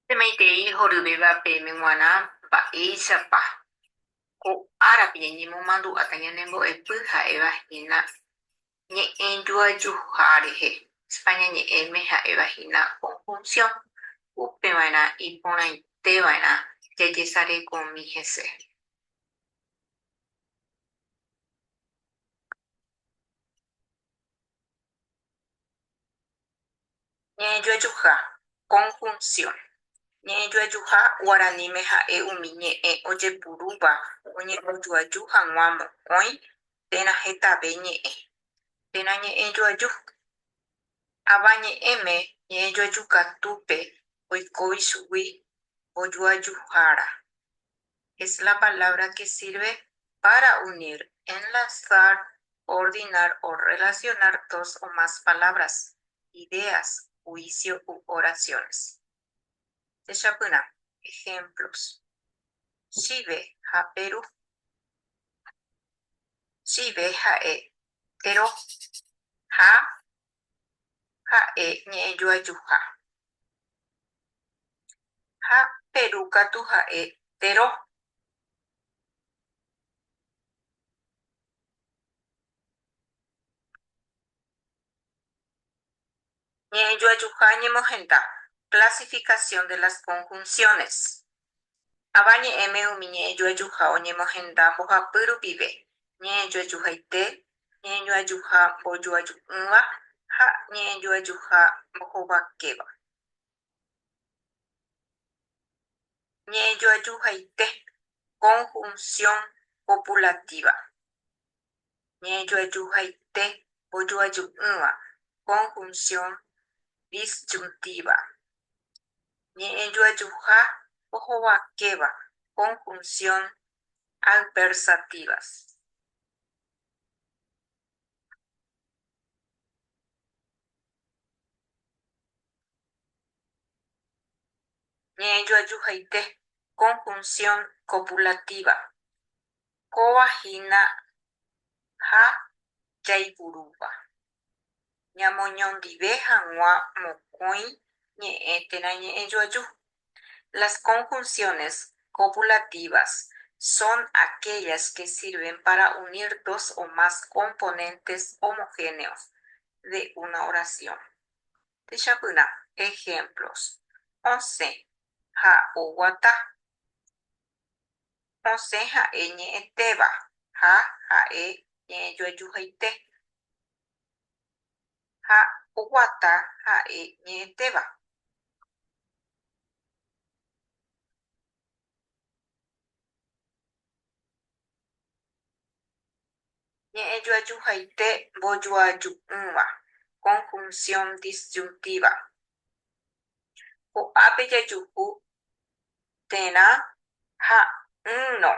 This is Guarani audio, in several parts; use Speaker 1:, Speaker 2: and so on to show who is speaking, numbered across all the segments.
Speaker 1: Pemaitei horyvéva peẽme g̃uarã mba'éichapa ko árape ñañemomandu'áta ñane mbo'epy ha'éva hína ñe'ẽjoajuha rehe, España ñe'ẽme ha'éva hína conjunción, upeva'erã iporãiteva'erã jajesarekomi hese. Ñe'ẽjoajuha, conjunción. Ñe'ẽjoajuha guaraníme ha'e umi ñe'ẽ ojepurúva oñembojoaju hag̃ua mokõi térã hetave ñe'ẽ. Térã ñe'ẽjoaju. Avañe'ẽme ñe'ẽjoajukatúpe oikóvi chugui mbojoajuhára. es la palabra que sirve para unir, enlazar, coordinar o relacionar dos o más palabras, ideas, juicio u oraciones. Techapyrã ejemplos. Chive ha peru. Chive ha'e tero ha ha'e ñe'ẽjoajuha, ha Peru katu ha'e Peró. Ñe'ẽjoajuha ñemohenda, Clasificación de las conjunciones. Avañe'ẽme umi ñe'ẽjoajuha oñemohenda mbohapy rupive, ñe'ẽjoajuhaite, ñe'ẽjoajuha mbojoaju'ỹva ha ñe'ẽjoajuha mbohovakéva. Ñe'ẽjoajuhaite, conjunción copulativa. ñe'ẽjoajuhaite mbojoaju'ỹva, conjunción disyuntiva, ñe'ẽjoajuha ohovakéva, conjunción adversativas. Ñe'ẽjoajuhaite, conjunción copulativa, Kóva hína ha jaipurúva, ñamoñondive hag̃ua mokõi ñe'ẽ térã ñe'ẽjoaju. Las conjunciones copulativas son aquellas que sirven para unir dos o más componentes homogéneos de una oración. Techapyrã ejemplos, osẽ ha oguata. Osẽ ha'e ñe'ẽtéva ha ha'e ñe'ẽjoajuhaite. Ha oguata ha'e ñe'ẽtéva. Ñe'ẽjoajuhaite mbojoaju'ỹva, conjunción disyuntiva. Ko'ápe jajuhu térã ha ỹrõ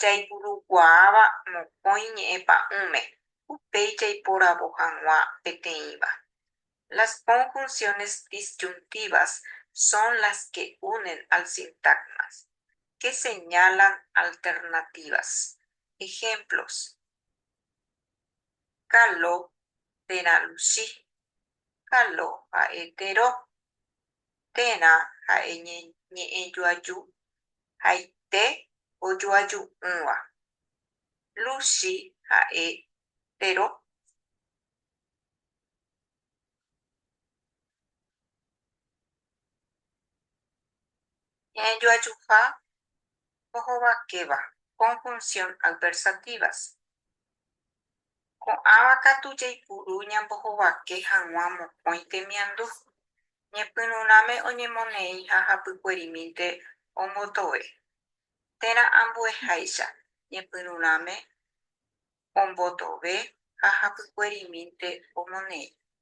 Speaker 1: jaipurukuaáva mokõi ñe'ẽpa'ũme, upéi jaiporavo hag̃ua peteĩva. Las conjunciones disyuntivas son las que unen al sintagmas, que señalan alternativas. Ejemplos. Kalo térã Luchi. Kalo ha'e Tero. Térã ha'e ñe'ẽjoaju haite ojoaju'ỹva. Luchi ha'e Tero. Ñe'ẽjoajuha ohovakéva, conjunción adversativas, Ko'ãva katu jaipuru ñambohovake hag̃ua mokõi temiandu, ñepyrũrãme oñemoneĩ ha hapykuerimínte ombotove, térã ambueháicha, ñepyrũrãme ombotove ha hapykuerimínte omoneĩ.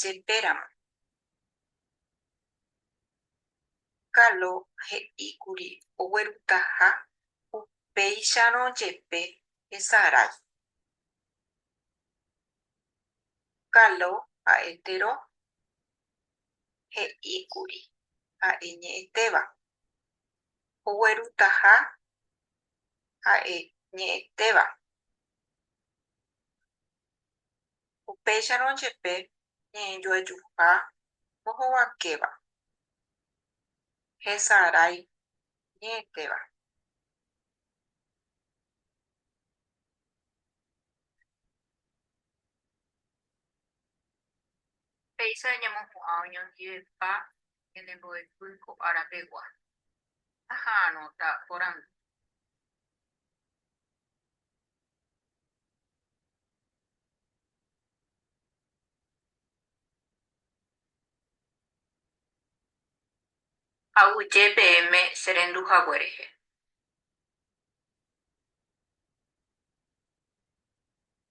Speaker 1: jepéramo. Carlo he'íkuri oguerutaha upéicharõ jepe hesarái. Carlo ha'etérõ he'íkuri ha'e ñe'ẽtéva. Oguerutaha ha'e ñe'ẽtéva. Upéicharõ jepe ñe'ẽjoajuha mbohovakéva, hesarái ñe'ẽtéva. Péicha ñamopu'ã oñondivepa ñane mbo'epy ko ára pegua, aha'arõta porandu. Aguyje peẽme che rendu hague rehe.